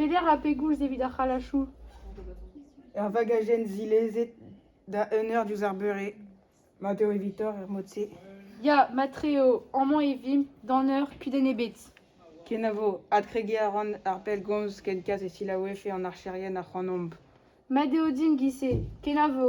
Peder ha pegoulz evit ar c'halachoù ? Ur vagajenn zilezet da un eur diouzh ar beure. Mat eo evitoc'h er mod-se. Ya, mat-tre eo. Amañ e vimp d'an eur kudenn ebet. Kenavo. Adkregiñ a ran ar pellgomz ken kalz e selaouefe an archerien ac'hanomp. Mat eo din, Guise. Kenavo.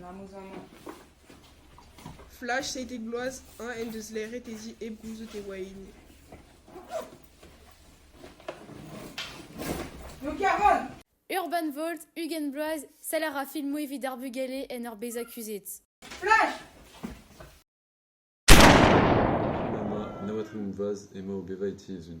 N'am eus amañ ket. Flash seitek bloaz, eñ en deus laeret e zi hep gouzout e oa hini. Urban Volt, ugent bloaz, saler ar filmoù evit ar bugale en ur bezañ kuzhet. Mama, na watrin vloaz emañ o bevañ e ti-izun.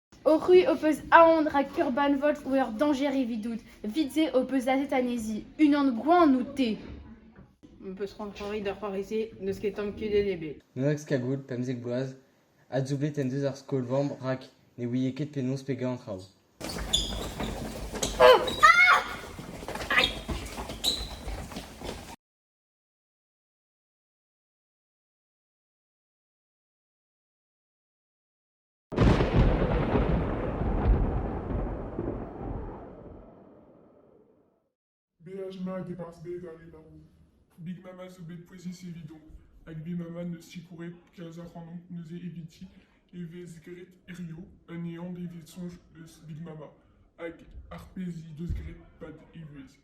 O c'hwi ho peus aon rak Urban Volt oa ur dañjer evidout. Evit se ho peus aset anezhi. Unan gwan out-te. M'em peus c'hoant c'hoari d'ar c'hoari-se, n'eus ket tamm kudenn ebet. Nedax Kagoud, pemzek bloaz, adsoublet en deus ar skol-vamm rak ne ouie ket penaos pegañ an traoù. Beaj mat e-barzh bed al labour. Big Mama zo bet pouezus evidomp, hag Big Mama n'eus sikouret kalz ac'hanomp neuze eviti e vez graet hiziv un ehan evit soñj eus Big Mama, hag ar pezh he deus graet pad e vuhez.